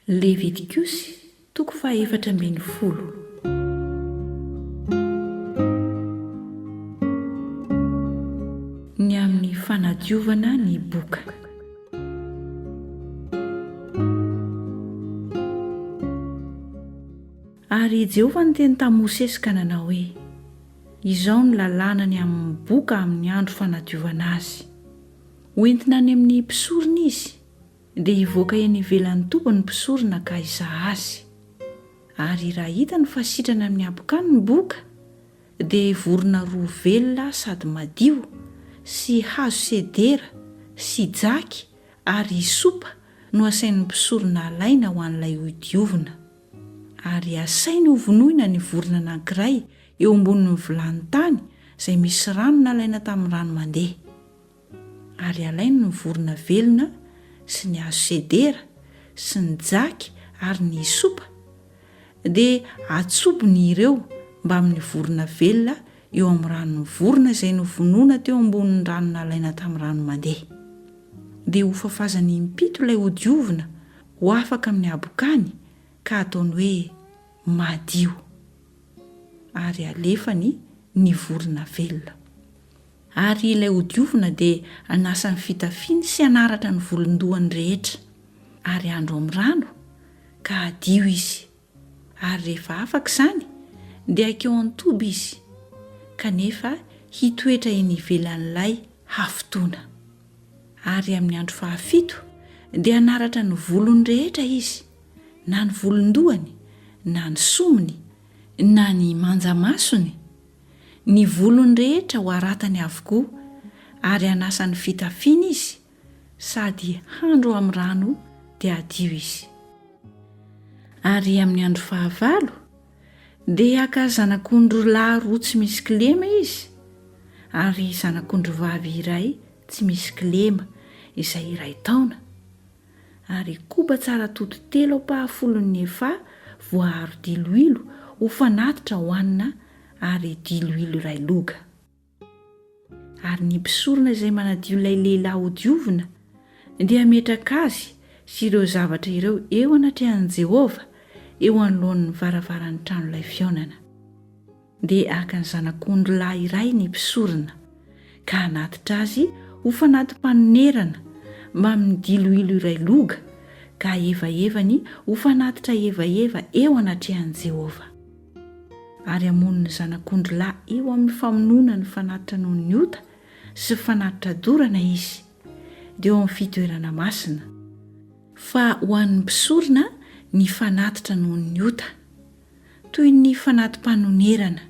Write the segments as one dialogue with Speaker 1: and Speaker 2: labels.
Speaker 1: Levitikosy, toko fahefatra ambin'ny folo. Ny amin'ny fanadiovana ny boka. Ary i Jehovah niteny tamin'i Mosesy ka nanao hoe, Izao ny lalàna ny amin'ny boka amin'ny andro fanadiovana azy. Hoentina any amin'ny mpisorona izy. Dia hivoaka eny ivelan'ny toby ny mpisorona ka hizaha azy. Ary raha hitany fa sitrana amin'ny habokany ny boka, dia hivorona roa velona sady madio, sy hazo sedera, sy jaky, ary hisopa no asain'ny mpisorona halaina ho an'ilay hodiovina. Ary asainy hovonoina ny vorona anankiray eo ambonin'ny vilany tany izay misy rano nalaina tamin'ny rano mandeha. ary alainy ny vorona velona sy ny hazo sedera sy ny jaky ary ny hisopa, dia atsobony ireo mbamin'ny vorona velona eo amin'ny ranon'ny vorona izay novonoina teo ambonin'ny rano nalaina tamin'ny rano mandeha. Dia hofafazany impito ilay hodiovina ho afaka amin'ny habokany ka hataony hoe madio. Ary alefany ny vorona velona. Ary ilay hodiovina dia hanasa ny fitafiany sy hanaratra ny volon-dohany rehetra. Ary handro amin'ny rano, ka hadio izy. Ary rehefa afaka izany, dia haikeo an-toby izy, kanefa hitoetra eny ivelan'ilay hafotoana. Ary amin'ny andro fahafito dia hanaratra ny volony rehetra izy, na ny volon-dohany, na ny somony, na ny manja-masony, Ny volony rehetra ho haratany avokoa, ary hanasa ny fitafiany izy, sady handro amin'ny rano dia hadio izy. Ary amin'ny andro fahavalo, dia haka zanak'ondry lahy roa tsy misy kilema izy, ary zanak'ondry vavy iray tsy misy kilema, izay iray taona, ary koba tsara tody telo ampahafolon'ny efa voaaro diloilo ho fanatitra hohanina ary diloilo iray loga. Ary ny mpisorona izay manadio ilay lehilahy hodiovina dia hametraka azy sy ireo zavatra ireo eo anatrehan'i Jehovah eo anoloan'ny varavaran'ny tranolay fihaonana. Dia haka ny zanak'ondry lahy iray ny mpisorona, ka hanatitra azy ho fanati-panonerana mamin'ny diloilo iray loga, ka hahevaevany ho fanatitra hevaheva eo anatrehan'i Jehovah. Ary hamono ny zanak'ondry lahy eo amin'ny famonoana ny fanatitra noho ny ota sy fanatitra dorana izy, dia eo amin'ny fitoerana masina. Fa ho an'ny mpisorona ny fanatitra noho ny ota. toy ny fanati-panonerana,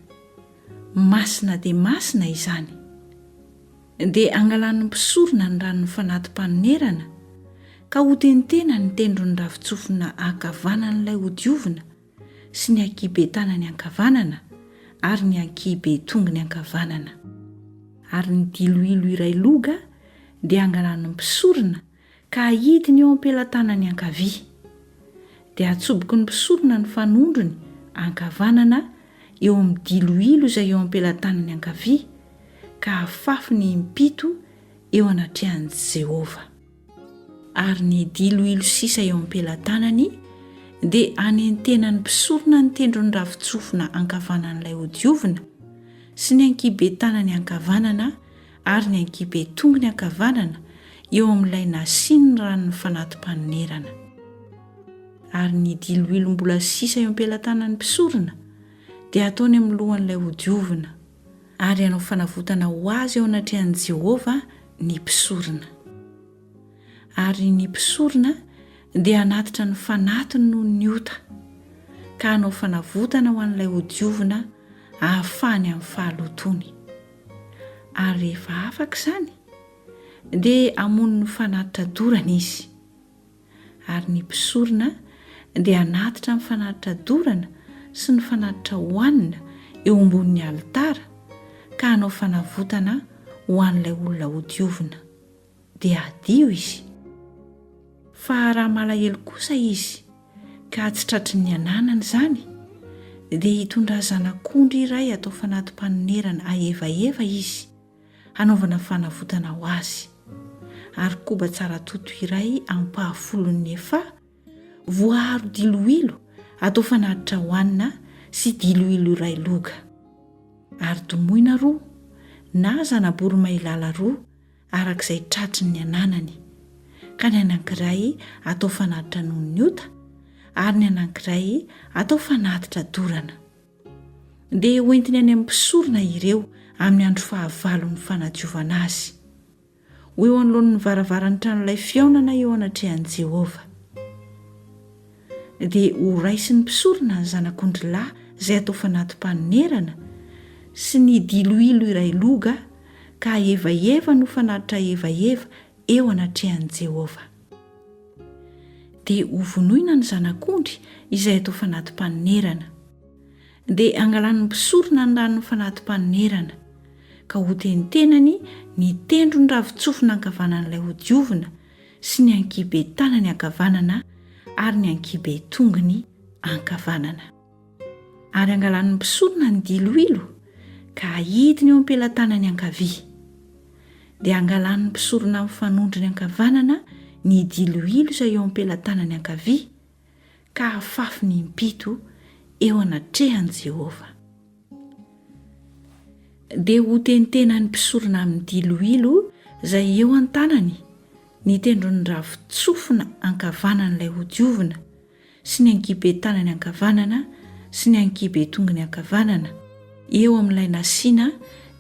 Speaker 1: masina dia masina izany. Dia angalan'ny mpisorona ny ranon'ny fanati-panonerana ka hotentenany ny tendron'ny ravin-tsofina ankavanan'ilay hodiovina sy ny ankihiben-tanany ankavanana ary ny ankihiben-tongony ankavanana. Ary ny diloilo iray loga dia angalan'ny mpisorona ka hahidiny eo am-pelatanany ankavia. Dia hatsoboky ny mpisorona ny fanondrony ankavanana eo amin'ny diloilo izay eo am-pelatanany ankavia, ka hafafiny impito eo anatrehan'i Jehovah. Ary ny diloilo sisa eo am-pelatanany dia hanentenan'ny mpisorona ny tendron'ny ravin-tsofina ankavanan'ilay hodiovina sy ny ankihiben-tanany ankavanana ary ny ankihibe tongony ankavanana eo amin'ilay nasian'ny ranon'ny fanati-panonerana. Ary ny diloilo mbola sisa eo am-pelatanan'ny mpisorona dia hataony amin'ny lohan'ilay hodiovina, ary hanao fanavotana ho azy eo anatrehan'i Jehovah ny mpisorona. Ary ny mpisorona dia hanatitra ny fanatiny noho ny ota, ka hanao fanavotana ho an'ilay hodiovina hahafahany amin'ny fahalotoany. ary rehefa afaka izany, dia hamono ny fanatitra dorana izy. Ary ny mpisorona dia hanatitra ny fanatitra dorana sy ny fanatitra hohanina eo ambonin'ny alitara ka hanao fanavotana ho an'ilay olona hodiovina. dia hadio izy. Fa raha malahelo kosa izy ka tsy tratry ny ananany izany, dia hitondrà zanak'ondry iray atao fanati-panonerana aevaheva izy hanaovana fanavotana ho azy, ary koba tsara toto iray ampahafolon'ny efa voaaro diloilo atao fanatitra hohanina sy diloilo iray loga, ary domoina roa na zana-boromailala roa araka izay tratry ny ananany, ka ny anankiray atao fanatitra noho ny ota, ary ny anankiray atao fanatitra dorana. Dia hoentiny any amin'ny mpisorona ireo amin'ny andro fahavalon'ny fanadiovana azy. Ho eo anoloan'ny varavaran'ny tranolay fihaonana eo anatrehan'i Jehovah. dia ho raisin'ny mpisorona ny zanak'ondry lahy izay atao fanati-panonerana, sy ny diloilo iray loga, ka hahevahevan' ho fanatitra hevaheva eo anatrehan'i Jehovah. Dia hovonoina ny zanak'ondry izay atao fanati-panonerana. Dia hangalan'ny mpisorona ny ran'ny fanati-panonerana, ka hotentenany ny tendron'ny ravin-tsofina ankavanan'ilay hodiovina, sy ny ankihibe tanany ankavanana ary ny ankihibe tongony ankavanana. Ary angalany ny mpisorona ny diloilo ka ahidiny eo am-pelatanany ankavia. Dia angalany ny mpisorona mifanondro ny ankavanana ny diloilo izay eo am-pelatanany ankavia, ka hafafy ny impito eo anatrehan'i Jehovah. Dia hotentenan'ny mpisorona amin'ny diloilo izay eo an-tanany ny tendron'ny ravin-tsofina ankavanan'ilay hodiovina sy ny ankiben-tanany ankavanana sy ny ankiben-tongony ankavanana eo amin'ilay nasiana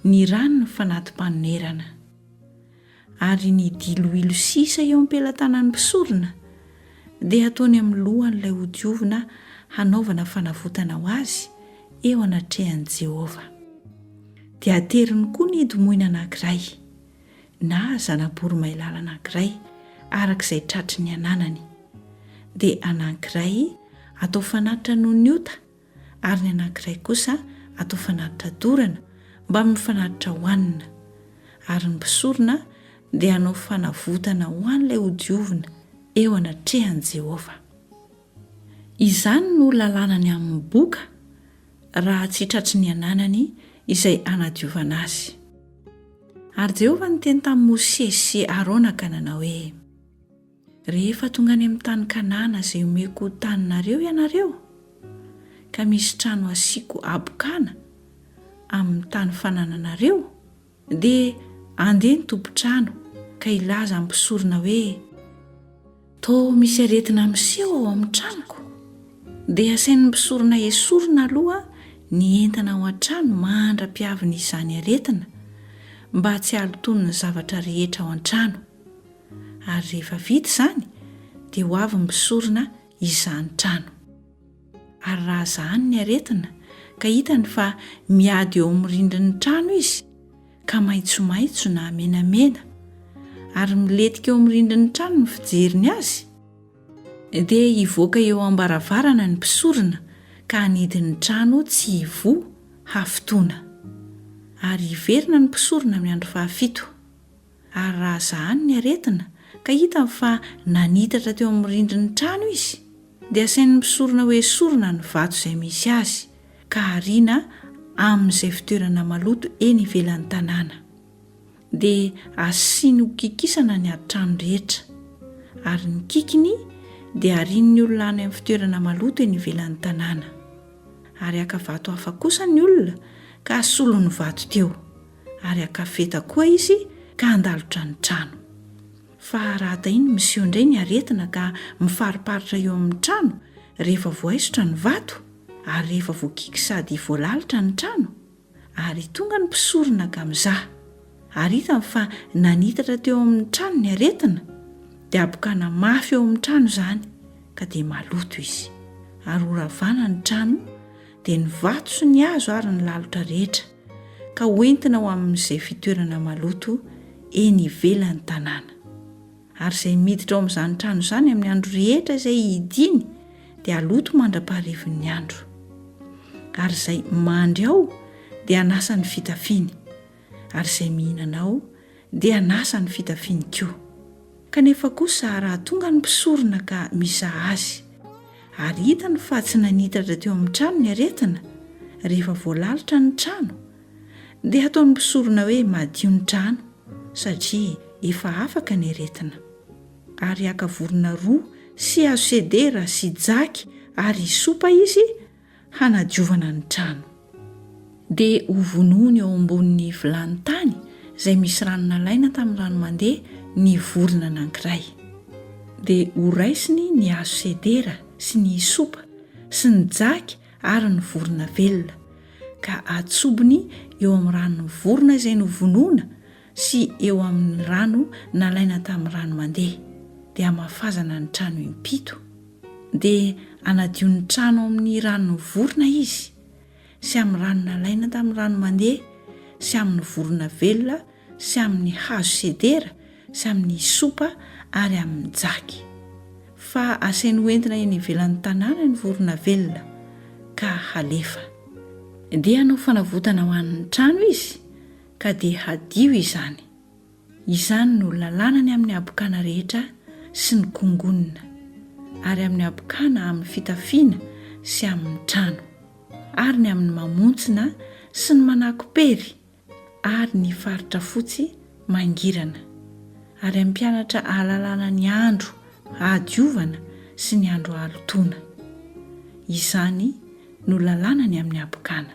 Speaker 1: ny ranon'ny fanati-panonerana. Ary ny diloilo sisa eo am-pelatanan'ny mpisorona dia hataony amin'ny lohan'ilay hodiovina hanaovana fanavotana ho azy eo anatrehan'i Jehovah. Dia ateriny koa ny hidimoina anankiray, na zana-boromailala anankiray, araka izay tratry ny ananany. Dia anankiray atao fanatitra noho ny ota, ary ny anankiray kosa atao fanatitra dorana mba mifanatitra ho hanina, ary ny mpisorona dia hanao fanavotana ho an'ilay hodiovina eo anatrehan'i Jehovah. Izany no lalànany amin'ny boka, raha tsy tratry ny ananany izay hanadiovana azy. Ary Jehovah niteny tamin'i Mosesy sy Arona ka nanao hoe. Rehefa tonga any amin'ny tany Kanana izay omeko ho taninareo ianareo, ka misy trano hasiako habokana amin'ny tany fanananareo, dia handeha ny tompon-trano ka hilaza amin'ny mpisorona hoe, Toa misy aretina miseho ao amin'ny tranoko, dia asain'ny mpisorona esorina aloha ny entana ao an-trano mandra-piavin'izany aretina, mba tsy halotoan'ny zavatra rehetra ao an-trano. ary rehefa vita izany dia ho avy ny mpisorona izany trano. Ary raha zahany ny aretina ka hitany fa miady eo amin'ny rindrin'ny trano izy ka maitsomaitso na menamena ary miletika eo amin'ny rindrin'ny trano ny fijeriny azy, dia hivoaka eo am-baravarana ny mpisorona ka hanidy ny trano tsy hivoha hafotoana. Ary hiverina ny mpisorona amin'ny andro fahafito. Ary raha zahany ny aretina ka hitany fa nanitatra teo amin'ny rindrin'ny trano izy, dia asainy misorona ho esorina ny vato izay misy azy, ka ariana amin'izay fitoerana maloto eny ivelan'ny tanàna. Dia asiany ho kikisana ny atrano rehetra. Ary ny kikiny dia arian'ny olona any amin'ny fitoerana maloto eny ivelan'ny tanàna. Ary haka vato hafa kosa ny olona ka hasolony vato teo. ary hakafeta koa izy ka handalotra ny trano. Fa raha tahian'ny miseho indray ny aretina ka mifariparitra eo amin'ny trano rehefa voaisotra ny vato ary rehefa voakiky sady voalalitra ny trano? Ary tonga ny mpisorona ka mizaha, ary hitany fa nanitatra teo amin'ny trano ny aretina, dia habokana mafy eo amin'ny trano izany, ka dia maloto izy. Ary horavana ny trano, dia ny vato sy ny hazo ary ny lalotra rehetra. ka hoentina ho amin'izay fitoerana maloto eny ivelan'ny tanàna. Ary izay miditra ao amin'izany trano izany amin'ny andro rehetra izay hidiany dia haloto mandra-paharivin'ny andro. Ary izay mandry ao dia hanasa ny fitafiany, ary izay mihinana ao Dia an'asa ny fitafiany koa. Kanefa kosa raha tonga ny mpisorona ka mizaha azy, ary hitany fa tsy nanitatra teo amin'ny trano ny aretina, rehefa voalalitra ny trano, dia hataon'ny mpisorona hoe madio ny trano, satria efa afaka ny aretina. Ary haka vorona roa sy hazo sedera sy jaky ary hisopa izy hanadiovana ny trano. Dia hovonoiny eo ambonin'ny vilany tany izay misy rano nalaina tamin'ny rano mandeha ny vorona anankiray. Dia horaisiny ny hazo sedera sy ny hisopa sy ny jaky ary ny vorona velona, ka atsobony eo amin'ny ranon'ny vorona izay novonoina sy eo amin' ny rano nalaina tamin'ny rano mandeha, dia hamafazana ny trano im-pito, dia hanadio ny trano amin' ny rano nivorona izy, sy amin'ny rano nalaina tamin'ny rano mandeha, sy amin' ny vorona velona, sy amin' ny hazo sedera, sy amin' ny hisopa, ary amin' ny jaky. Fa asainy ho entina eny ivelan' ny tanàna ny vorona velona, ka halefa. Dia hanao fanavotana ho an' ny trano izy, Ka dia hadio izany. Izany no lalàna ny amin'ny habokana rehetra sy ny kongonona, ary amin'ny habokana amin'ny fitafiana sy amin'ny trano, ary ny amin'ny mamontsina sy ny manako-pery, ary ny faritra fotsy mangirana, ary hampianatra ahalalana ny andro hahadiovana sy ny andro hahalotoana. Izany no lalàna ny amin'ny habokana.